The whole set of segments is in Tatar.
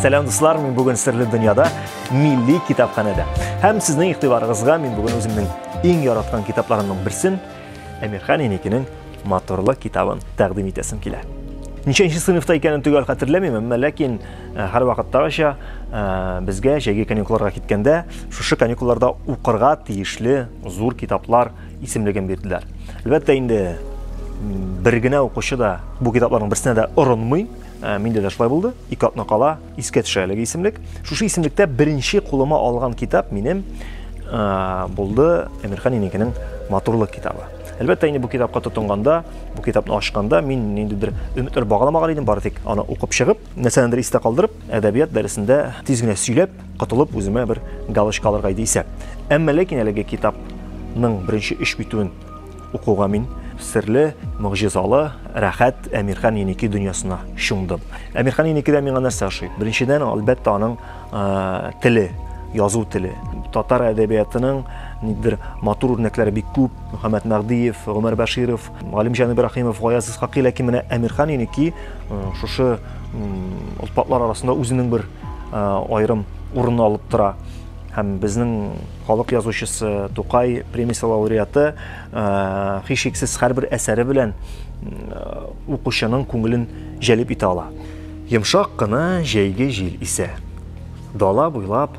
Сәлам дуслар, мин бүген серле дөньяда милли китапханәдә. Һәм сезнең игътибарыгызга мин бүген үземнең иң яраткан китапларымның берсен Әмирхан Еникинең моторлы китабын тәкъдим итәсем килә. Ничәнче сыйныфта икәнен төгәл хәтерләмим, әмма ләкин э, һәр вакыттагыча э, безгә җәйге каникулларга киткәндә шушы каникулларда укырга тиешле зур китаплар исемлеген бирделәр. Әлбәттә инде бер генә укучы да бу китапларның берсенә дә орынмый. Ә, миндә дә шулай булды. Ике атна кала искә төшә әлеге исемлек. Шушы исемлектә беренче кулыма алган китап минем ә, булды Әмирхан инекенең матурлык китабы. Әлбәттә инде бу китапка тотынганда, бу китапны ачканда мин ниндидер өметләр багаламаган идем, бары тик аны укып чыгып, нәрсәнедер истә калдырып, әдәбият дәресендә тиз генә сөйләп, котылып үземә бер галочка алырга иде исәп. Әмма ләкин әлеге китапның беренче өч битүен укуга мин серле, могҗизалы, рәхәт Әмирхан Еники дөньясына чумдым. Әмирхан Еникидә миңа нәрсә ошый? Беренчедән, әлбәттә, аның э, теле, язу теле. Татар әдәбиятының нидер матур үрнәкләре бик күп. Мөхәммәд Мәгдиев, Гомәр Бәширов, Галимҗан Ибрахимов, Гаяз Исхакый, ләкин менә Әмирхан Еники шушы олпатлар арасында үзенең бер аерым урынны алып тора һәм безнең халык язучысы Тукай премиясе лауреаты һичшиксез һәрбер әсәре белән укучының күңелен җәлеп итә ала. Йомшак кына җәйге җил исә. Дала буйлап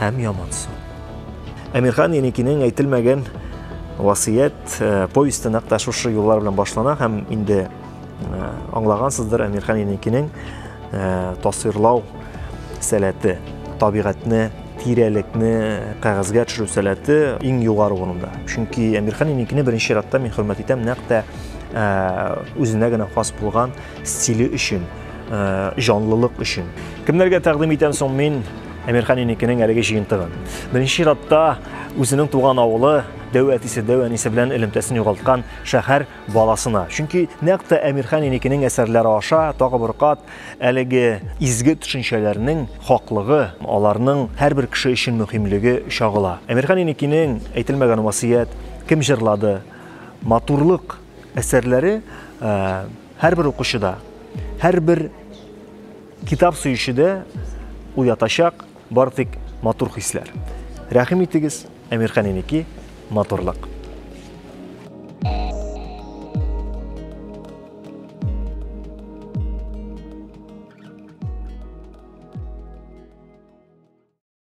һәм ямансу. Әмирхан Еникинең әйтелмәгән васыят э, повесте нәкъ тә шушы юллар белән башлана һәм инде э, аңлагансыздыр Әмирхан Еникинең э, тасвирлау сәләте, табигатьне, тирәлекне кәгазьгә төшерү сәләте иң югары урында. Чөнки Әмирхан Еникине беренче чиратта мин хөрмәт итәм нәкъ тә үзенә генә хас булган Стиле өчен, җанлылык өчен. Кемнәргә тәкъдим итәм соң мин Әмирхан инекенең әлеге җыентыгын? Беренче чиратта үзенең туган авылы, дәү әтисе, дәү әнисе белән элемтәсен югалткан шәһәр баласына. Чөнки нәкъ тә Әмирхан инекенең әсәрләре аша тагы бер кат әлеге изге төшенчәләрнең хаклыгы, аларның һәрбер кеше өчен мөһимлеге чагыла. Әмирхан инекинең әйтелмәгән васыят, кем җырлады, матурлык Әсәрләре һәрбер укучыда, һәрбер китап сөючедә уятачак бар тик матур хисләр. Рәхим итегез, Әмирхан Инеки, матурлык.